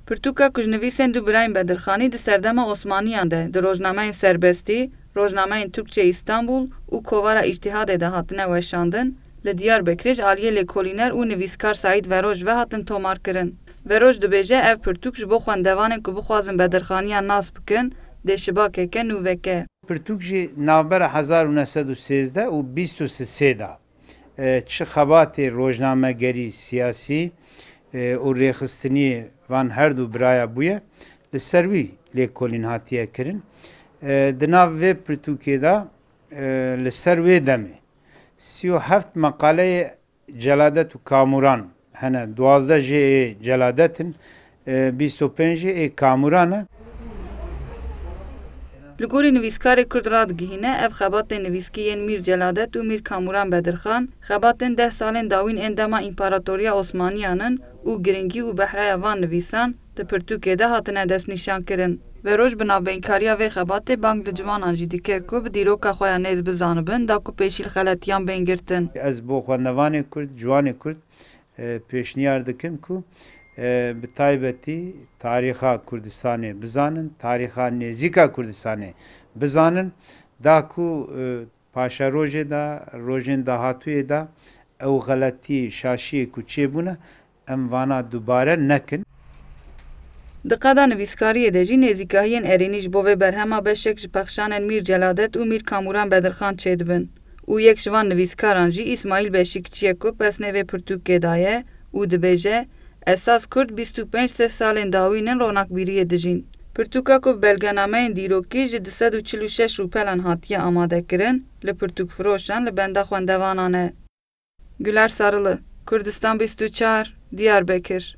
Pirtûka ku ji nivîsên du birayên Bedirxanî di serdema Osmaniyan de di rojnameyên Serbestî, rojnameyên Türkçe İstanbul û Kovara Îctîhadê de hatine weşandin, li Diyarbekirê ji aliyê lêkolîner û nivîskar Saîd Veroj ve hatin tomarkirin. Veroj dibêje ev pirtûk ji bo xwendevanên ku bixwazin Bedirxaniyan nas bikin dê şibakeke nû veke. Pirtûk jî navbera hezar û neh sed û sêzdeh û bîst û sisê de Çi xebatê rojnamegerî, siyasî û rêxistinî van herdu biraya bûye li ser wî lêkolîn hatiye kirin. Di nav vê pirtûkê de li ser wê demê sî û heft meqaleyê Celadet û Kamuran Hene duwazdeh jê ê Celadet in, bîst û pênc jê ê Kamuran e. Li gorî nivîskarê kurd radigihîne, ev xebatên nivîskî yên Mîr Celadet û Mîr Kamuran Bedirxan, xebatên deh salên dawîn ên dema Împaratoriya Osmaniyan in û girîngî û behraya van nivîsan, di pirtûkê de hatine destnîşankirin. Veroj bi navbeynkariya vê xebatê bang li ciwanan jî dikir ku bi dîroka xwe ya nêz bizanibin da ku pêşî li xeletiyan bên girtin. Ez bo xwendevanê kurd, ciwanê kurd pêşniyar dikim ku bi taybetî tarîxa Kurdistanê bizanin, tarîxa nêzîka Kurdistanê bizanin da ku Paşerojê de, rojên dahatûyê de ew xeletî, şaşiyê ku çêbûne em vana dubare nekin. Di qada nivîskariyê de jî nêzîkahiyên erênî ji bo vê berhema beşek ji pexşanên Mîr Celadet û Mîr Kamûran Bedirxan çêdibin û yek ji van nivîskaran jî Îsmaîl Beşîkçi ye ku pesnê vê pirtûkê daye û dibêje, Esas Kurd bîst û pênc sed salên dawîn in ronakbîriyê dijîn. Pirtûka ku bi belgenameyên dîrokî ji du sed û çil û şeş rûpelan hatiye amadekirin, li pirtûkfiroşan li benda xwendevanan e. Güler Sarılı, Kurdistan bîst û çar, Diyarbekir.